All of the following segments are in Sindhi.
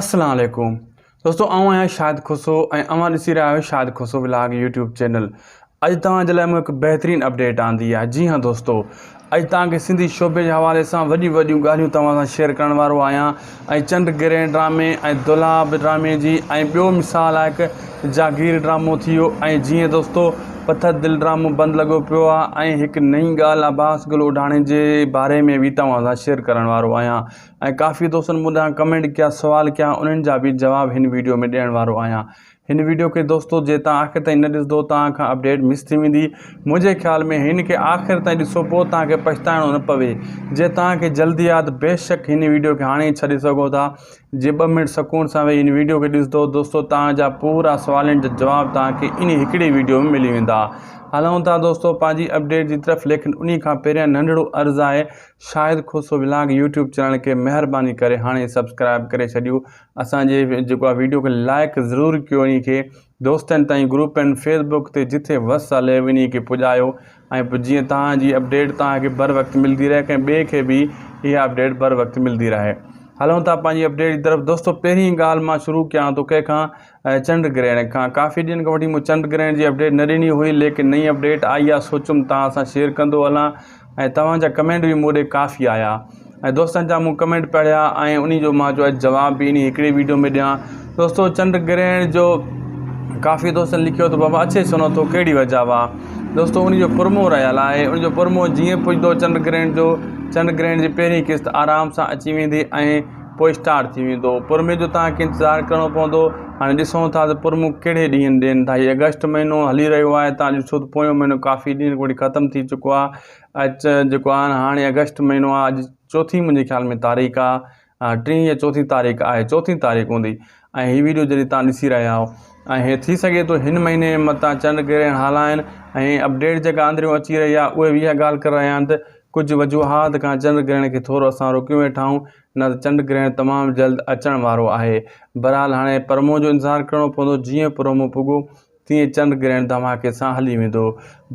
اسلام عليڪم دوستو آئون آهيان شاهد کوسو ۽ اوهان ڏسي رهيا آهيو Shahid Khoso vlog YouTube channel اڄ توهان جي لاء مون هڪ بهترين اپڊيٽ آندي آهي جي هان دوستو اڄ توهان کي سنڌي شعبي جي حوالي سان وڏيون وڏيون ڳالهيون توهان سان شيئر ڪرڻ وارو آهيان ۽ چنڊ گرهن ڊرامي ۽ دولاب ڊرامي جي ۽ ٻيو مثال آهي هڪ جاگير ڊرامو ٿي ويو ۽ جي هان دوستو پٿر دل ڊرامو بند لڳو پيو آهي ۽ هڪ نئين ڳالهه عباس گل اوڍاڻي جي باري ۾ به توهان سان شيئر ڪرڻ وارو آهيان ۽ ڪافي دوستن مون ڏانهن ڪمينٽ ڪيا سوال ڪيا انهن جا به جواب هن ويڊيو ۾ ڏيڻ وارو آهيان هن ويڊيو کي دوستو جي تان آخر تائين نه ڏسدو تان کان اپڊيٽ مس ٿي ويندي منهنجي خيال ۾ هن کي آخر تائين ڏسو پو تان کي پڇتائڻو نه پوي جي تان کي جلدي ياد بيشڪ هن ويڊيو کي هاڻي ئي ڇڏي سگهو ٿا جي ٻه منٽ سڪون سان ويهي هن ويڊيو کي ڏسدو دوستو تان جا پورا سوالن جا جواب تان کي انهي هڪڙي ويڊيو ۾ ملي ويندا هلون ٿا دوستو پنهنجي اپڊيٽ جي طرف ليڪن انهي کان پهريان ننڍڙو عرض آهي Shahid Khoso vlog YouTube channel کي مهرباني ڪري هاڻي سبسڪرائب ڪري ڇڏيو اسان جي جيڪو آ ويڊيو کي لائڪ ضرور ڪيو انهي کي دوستن تائين گروپ ۽ فيس بڪ تي جٿي وس هلي انهي کي پڄايو ۽ پو جيئن توهان جي اپڊيٽ توهان کي بر وقت ملدي رهي ڪنهن ٻي کي به اها اپڊيٽ بر وقت ملدي رهي هلون ٿا پنهنجي اپڊيٽ جي طرف دوستو پهرين ڳالهه مان شروع ڪيان ٿو ڪنهن کان چنڊ گرهڻ کان ڪافي ڏينهن کان وٺي مون چنڊ گرهڻ جي اپڊيٽ نه ڏني هئي ليڪن نئين اپڊيٽ آئي آ سوچيم توهان سان شيئر ڪندو هلان ۽ توهان جا ڪمينٽ به مون ڏي ڪافي آيا ۽ دوستن جا مون ڪمينٽ پڙهيا ۽ انهي جو مان جو جواب به انهي هڪڙي ويڊيو ۾ ڏيان دوستو چنڊ گرهڻ جو ڪافي دوستن لکيو ته بابا اڇي سنو ٿو ڪهڙي وجه آ دوستو انهي جو پرمو رهيل آهي انهي جو پرمو جيئن پڄندو چنڊ گرهڻ جو چنڊ گرهڻ جي پهرين قسط آرام سان اچي ويندي ۽ پوء اسٽارٽ ٿي ويندو پرمي جو توهان کي انتظار ڪرڻو پوندو هاڻي ڏسون ٿا ته پرمو ڪهڙي ڏينهن ڏين ٿا هي اگسٽ مهينو هلي رهيو آهي توهان ڏسو ته پويون مهينو ڪافي ڏينهن کان وٺي ختم ٿي چڪو آهي اچ جيڪو آهن هاڻي اگسٽ مهينو آهي اڄ چوٿين منهنجي خيال ۾ تاريخ آهي ٽين يا چوٿين تاريخ آهي چوٿين تاريخ هوندي ۽ هي ويڊيو جڏهن تان ڏسي رهيا آهو ۽ هي ٿي سگهي ٿو هن مهيني متان چنڊ گرهڻ هالا آهن ۽ اپڊيٽ جيڪا اندريون اچي رهي آهي اهي به اها ڳالهه ڪري رهيا آهن ته ڪجهه وجوهات کان چنڊ گرهڻ کي ٿورو اسان روڪيون ويٺائون نه ته چنڊ گرهڻ تمام جلد اچڻ وارو آهي. بهرحال هاڻي پرمون جو انتظار ڪرڻو پوندو جيئن پرمون پڳو تيئن چنڊ گرهڻ ڌماڪي سان هلي ويندو.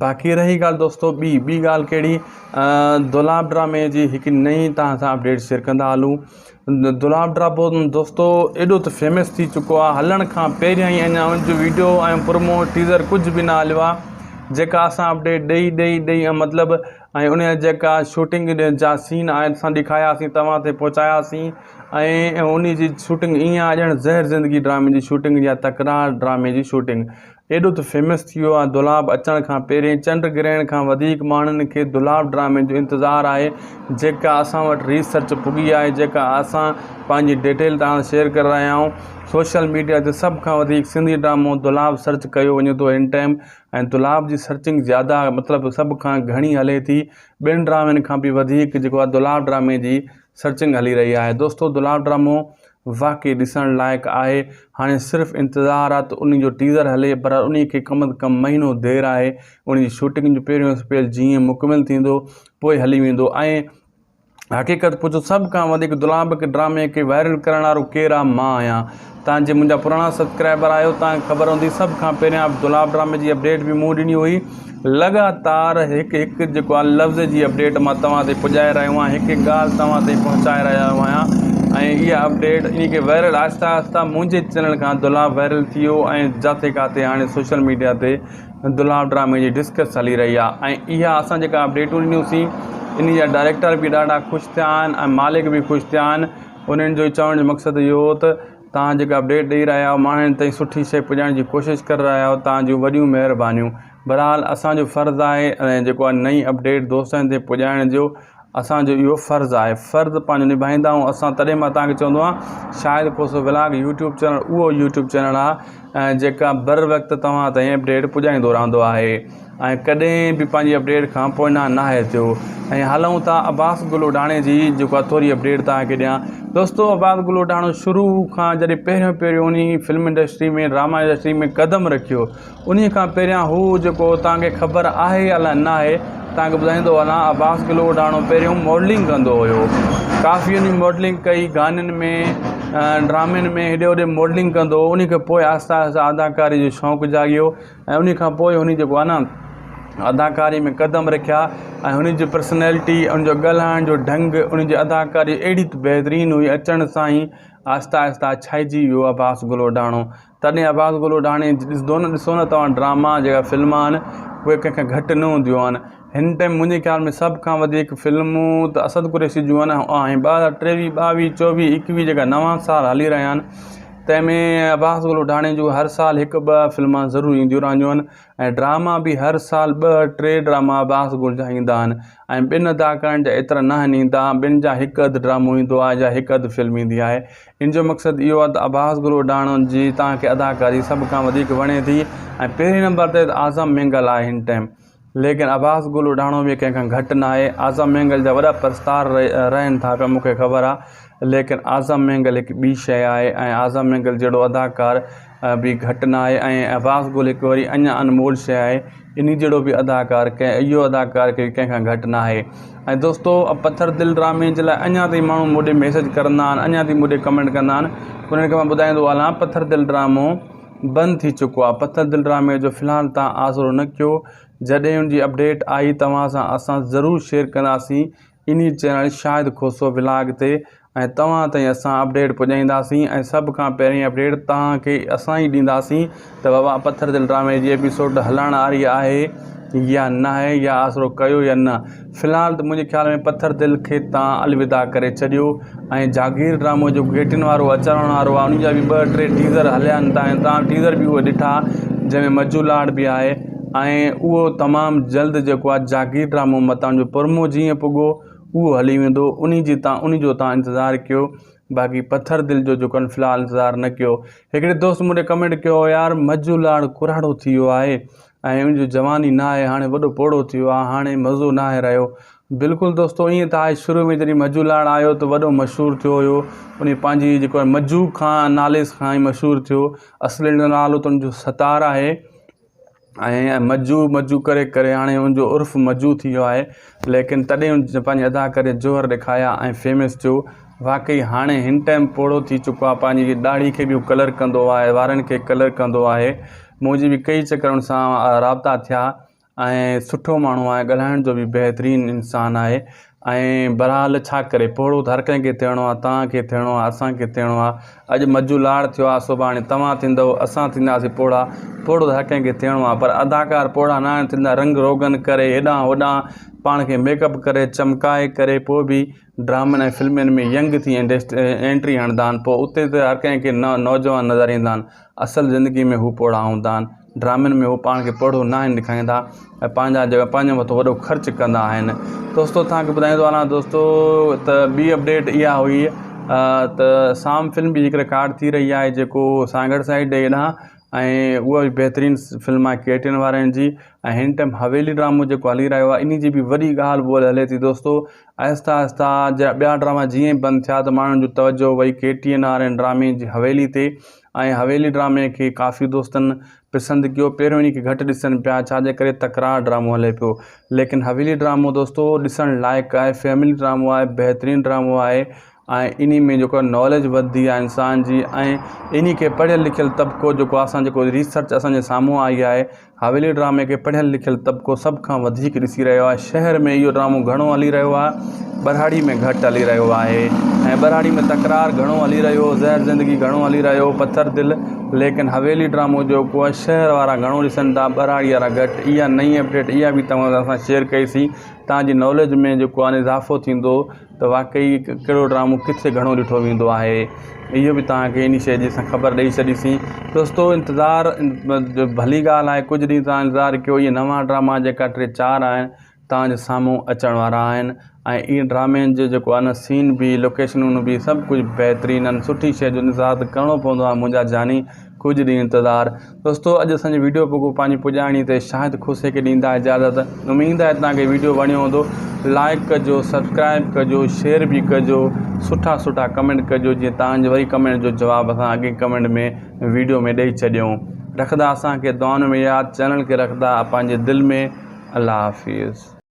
باقي رهي ڳالهه دوستو ٻي ٻي ڳالهه ڪهڙي دولاب ڊرامي جي هڪ نئين توهان سان اپڊيٽ شيئر ڪندا هلون. دولاب ڊراپو دوستو ايڏو ته فيمس ٿي چڪو آهي هلڻ کان پهريان ئي اڃا ان جو ويڊيو ۽ پرومو ٽيزر ڪجهه به نه هليو آهي جيڪا اسان اپڊيٽ ڏئي ڏئي ڏئي ۽ مطلب ۽ ان جا جيڪا شوٽنگ جا سين آهن اسان ڏيکاياسين توهان تائين پهچاياسين ۽ ان جي شوٽنگ ائين آهي ڄڻ زهر زندگي ڊرامي جي شوٽنگ جا تڪرار ڊرامي جي شوٽنگ ايڏو ته فيمس ٿي ويو آهي دولاب اچڻ کان پهرين چنڊ گرهڻ کان وڌيڪ ماڻهن کي دولاب ڊرامي جو انتظار آهي جيڪا اسان وٽ ريسرچ پڳي آهي جيڪا اسان پنهنجي ڊيٽيل توهان سان شيئر ڪري رهيا آهيون سوشل ميڊيا تي سڀ کان وڌيڪ سنڌي ڊرامو دولاب سرچ ڪيو وڃي ٿو هن ٽائيم ۽ دولاب جي سرچنگ زياده مطلب سڀ کان گهڻي هلي ٿي ٻين ڊرامن کان به وڌيڪ جيڪو آهي دولاب ڊرامي جي سرچنگ هلي رهي آهي دوستو دلال ڊرامو واقعي ڏسڻ لائق آهي هاڻي صرف انتظار آ ته انهي جو ٽيزر هلي پر انهي کي ڪم از ڪم مهينو دير آهي انهي جي شوٽنگ جو پهريون اسپيل جيئن مڪمل ٿيندو پوء هلي ويندو ۽ حقيقت پڇو سڀ کان وڌيڪ دلال ڊرامي کي وائرل ڪرڻ وارو ڪير آ مان آهيان. توهان جي منهنجا پراڻا سبسڪرائبر آهيو توهان کي خبر هوندي سڀ کان پهريان عبدالله ڊرامي جي اپڊيٽ به مون ڏني هئي لڳاتار هڪ هڪ جيڪو آهي لفظ جي اپڊيٽ مان توهان تائين پڄائي رهيو آهيان هڪ هڪ ڳالهه توهان تائين پهچائي رهيو آهيان ۽ اها اپڊيٽ ان کي وائرل آهستي آهستي منهنجي چينل کان عبدالله وائرل ٿي ويو ۽ جاٿي ڪاٿي هاڻي سوشل ميڊيا تي عبدالله ڊرامي جي ڊسڪس هلي رهي آهي ۽ اها اسان جيڪا اپڊيٽون ڏنيون سين ان جا ڊائريڪٽر به ڏاڍا خوش ٿيا آهن ۽ مالڪ به خوش ٿيا آهن انهن جو چوڻ جو مقصد اهو هو ته توهان جيڪا اپڊيٽ ڏئي رهيا آهيو ماڻهن تائين سٺي شيء پڄائڻ جي ڪوشش ڪري رهيا آهيو توهان جون وڏيون مهربانيون بهرحال اسان جو فرض آهي ۽ جيڪو آهي نئين اپڊيٽ دوستن تائين پڄائڻ جو اسان جو اهو فرض آهي فرض پنهنجو نڀائيندا آهيون اسان تڏهن مان توهان کي چوندو آهيان Shahid Khoso vlog YouTube channel اهو يوٽيوب چينل آهي جيڪا بر وقت توهان تائين اپڊيٽ پڄائيندو رهندو آهي ۽ ڪڏهن به پنهنجي اپڊيٽ کان پوئنا ناهي ٿيو ۽ هلون ٿا عباس گل اڍاڻي جي جيڪو اٿوري اپڊيٽ توهان کي ڏيان دوستو عباس گل اڍاڻو شروع کان جڏهن پهريون پهريون انهي فلم انڊسٽري ۾ ڊراما انڊسٽري ۾ قدم رکيو انهي کان پهريان هو جيڪو توهان کي خبر آهي يا لا ناهي توهان کي ٻڌائيندو هلان عباس گل اڍاڻو پهريون ماڊلنگ ڪندو هيو ڪافي انهي ماڊلنگ ڪئي گانن ۾ ڊرامن ۾ هيڏي هوڏي ماڊلنگ ڪندو هو انهي کان پوء آهستي آهستي اداڪاري جو شوق جاڳيو ۽ انهي کان پوء هن جيڪو آهي نه اداڪاري ۾ قدم رکيا ۽ هن جي پرسنيلٽي ان جو ڳالهائڻ جو ڍنگ ان جي اداڪاري اهڙي ته بهترين هئي اچڻ سان ئي آهستي آهستي ڇائجي ويو عباس گلوڊاڻو تڏهن عباس گلوڊاڻي ڏسندو نه ڏسو نه توهان ڊراما جيڪا فلما آهن اهي ڪنهن کان گهٽ نه هونديون آهن هن ٽائيم منهنجي خيال ۾ سڀ کان وڌيڪ فلمون ته اسد قريشي جون آهن ۽ ٻه هزار ٽيويهه ٻاويهه چوويهه ايڪيويهه جيڪا نوان سال هلي رهيا آهن تنهن ۾ عباس گل وڍاڻي جون هر سال هڪ ٻه فلمان ضرور اينديون رهنديون آهن ۽ ڊراما به هر سال ٻه ٽي ڊراما عباس گل جا ايندا آهن ۽ ٻن اداڪارن جا ايترا نه آهن ايندا ٻن جا هڪ اڌ ڊرامو ايندو آهي جا هڪ اڌ فلم ايندي آهي ان جو مقصد اهو آهي ته عباس گل وڍاڻو جي توهان کي اداڪاري سڀ کان وڌيڪ وڻي ٿي ۽ پهرين نمبر تي اعظم مينگل آهي هن ٽائيم ليڪن عباس گل اڍاڻو به ڪنهن کان گهٽ ناهي. اعظم مينگل جا وڏا پرستار رهن ٿا پيا مون کي خبر آ ليڪن اعظم مينگل هڪ ٻي شيء آهي ۽ اعظم مينگل جهڙو اداڪار به گهٽ ناهي ۽ عباس گل هڪ وري اڃان انمول شيء آهي انهي جهڙو به اداڪار ڪنهن اهو اداڪار ڪي ڪنهن کان گهٽ ناهي ۽ دوستو پٿر دل ڊرامي جي لاء اڃان تائين ماڻهو مون ڏي ميسيج ڪرندا آهن اڃان تائين مون ڏي ڪمينٽ ڪندا آهن انهن کي مان ٻڌائيندو هلان پٿر دل ڊرامو بند ٿي چڪو آ پٿر دل ڊرامي جو في الحال تان آسرو نه ڪيو جڏهن ان جي اپڊيٽ آئي توهان سان اسان ضرور شيئر ڪنداسين انهي چينل شاهد کوسو ولاگ تي ۽ توهان تائين اسان اپڊيٽ پڄائينداسين ۽ سڀ کان پهرين اپڊيٽ توهان کي اسان ئي ڏينداسين ته بابا پٿر دل ڊرامي جي ايپيسوڊ هلڻ آري آهي يا ناهي يا آسرو ڪيو يا نه في الحال ته منهنجي خيال ۾ پٿر دل کي تان الوداع ڪري ڇڏيو ۽ جاگير ڊرامو جيڪو گهيٽين وارو اچڻ وارو آهي ان جا به ٻه ٽي ٽيزر هليا آهن تاڻي تان ٽيزر به اهي ڏٺا جنهن ۾ مجو لاڙ به آهي ۽ اهو تمام جلد جيڪو آهي جاگير ڊرامو متان جو پرمو جيئن پڳو اهو هلي ويندو ان جي تان ان جو تان انتظار ڪيو باقي پٿر دل جو جيڪو آهن في الحال انتظار نه ڪيو هڪڙي دوست مون ڏي ڪمينٽ ڪيو يار مجو لاڙ ڪراڙو ٿي ويو آهي ۽ ان جو جواني نه آهي هاڻي وڏو پوڙهو ٿيو آ هاڻي مزو ناهي رهيو بلڪل دوستو ائين ته آهي شروع ۾ جڏهن مجو لاڙ آيو ته وڏو مشهور ٿيو هيو انهي پنهنجي جيڪو آهي مجو کان نالي کان ئي مشهور ٿيو اصل نالو ته ان جو ستار آهي ۽ مجو مجو ڪري ڪري هاڻي ان جو عرف مجو ٿي ويو آهي ليڪن تڏهن ان پنهنجي ادا ڪري جوهر ڏيکايا ۽ فيمس ٿيو واقعي هاڻي هن ٽائيم پوڙهو ٿي چڪو آهي پنهنجي ڏاڙهي کي به ڪلر ڪندو آهي وارن کي ڪلر ڪندو آهي منهنجي به ڪيئي چڪر ان سان رابطا ٿيا ۽ سٺو ماڻهو آهي ڳالهائڻ جو بي بهترين انسان آهي ۽ بهرحال ڇا ڪري پوڙهو ته هر ڪنهن کي ٿيڻو آهي توهان کي ٿيڻو آهي اسان کي ٿيڻو آهي اڄ مجو لاڙ ٿيو آهي سڀاڻي توهان ٿيندو اسان ٿينداسين پوڙها پوڙهو ته هر ڪنهن کي ٿيڻو آهي پر اداڪار پوڙها نه آهن ٿيندا رنگ روغن ڪري هيڏانهن هوڏانهن پاڻ کي ميڪ اپ ڪري چمڪائي ڪري پوء بي ڊرامن ۽ فلمين ۾ ينگ ٿي اينٽري هڻندا آهن پوء اتي ته هر ڪنهن کي نوجوان نظر ايندا آهن اصل زندگي ۾ هو پوڙها هوندا آهن ڊرامن ۾ هو پاڻ کي پوڙهو ناهن ڏيکاريندا ۽ پنهنجا جيڪا پنهنجي مٿو وڏو خرچ ڪندا آهن دوستو توهان کي ٻڌائيندو هلان دوستو ته ٻي اپڊيٽ اها هئي ته سام فلم به هڪ رڪارڊ ٿي رهي آهي جيڪو سانگهڙ سائيڊ ڏي ڏانهن ۽ اها به بهترين فلم آهي ڪي ٽين وارن جي ۽ هن ٽائم حويلي ڊرامو جيڪو هلي رهيو آهي ان جي به وڏي ڳالهه ٻولهه هلي ٿي دوستو آهستي آهستي جا ٻيا ڊراما جيئن ئي بند ٿيا ته ماڻهن جو توجهه وئي K T N R N ڊرامي جي حويلي تي ۽ حويلي ڊرامي کي ڪافي دوستن پسند ڪيو پهريون انهي کي گهٽ ڏسن پيا ڇا جي ڪري تڪرار ڊرامو هلي پيو ليڪن حويلي ڊرامو دوستو ڏسڻ لائق آهي فيملي ڊرامو آهي بهترين ڊرامو آهي ۽ انهي ۾ جيڪو ناليج وڌي آهي انسان جي ۽ انهي کي پڙهيل لکيل طبقو جيڪو آهي اسان جيڪو ريسرچ اسان جي سامهون آئي آهي حويلي ڊرامي کي پڙهيل لکيل طبقو سڀ کان وڌيڪ ڏسي رهيو آهي شهر ۾ اهو ڊرامو گهڻو هلي رهيو آهي ٻهراڙي ۾ گهٽ هلي رهيو آهي ۽ ٻهراڙي ۾ تڪرار گهڻو هلي رهيو زهر زندگي گهڻو هلي رهيو پٿر دل ليڪن حويلي ڊرامو جيڪو آهي شهر وارا گهڻو ڏسن ٿا ٻهراڙي وارا گهٽ اها نئي اپڊيٽ اها به توهان سان شيئر ڪئي سي توهان جي ناليج ۾ جيڪو آهي اضافو ٿيندو ته واقعي ڪهڙو ڊرامو ڪٿي گهڻو ڏٺو ويندو آهي اهو به توهان کي ان شيء جي اسان خبر ڏئي ڇڏيسين دوستو انتظار ڀلي ڳالهه آهي ڪجهه ڏينهن تان انتظار ڪيو اهي نوا ڊراما جيڪا ٽي چار آهن توهان جي سامهون اچڻ وارا آهن ۽ اهي ڊرامين جو جيڪو آهي سين بي لوڪيشنون بي سڀ ڪجهه بهترين آهن سٺي شيء جو انتظار ته ڪرڻو پوندو آهي منهنجا جاني ڪجهه ڏينهن انتظار دوستو اڄ اسان جي ويڊيو پڳو پنهنجي پڄاڻي تي شاهد خوسي کي ڏيندا اجازت اميد آهي توهان کي ويڊيو وڻيو هوندو لائڪ ڪجو سبسڪرائب ڪجو شيئر به ڪجو سٺا سٺا ڪمينٽ ڪجو جيئن توهان جي وري ڪمينٽ جو جواب اسان اڳئين ڪمينٽ ۾ ويڊيو ۾ ڏئي ڇڏيون رکندا اسان کي دعائن ۾ ياد چينل کي رکندا پنهنجي دل ۾ الله حافظ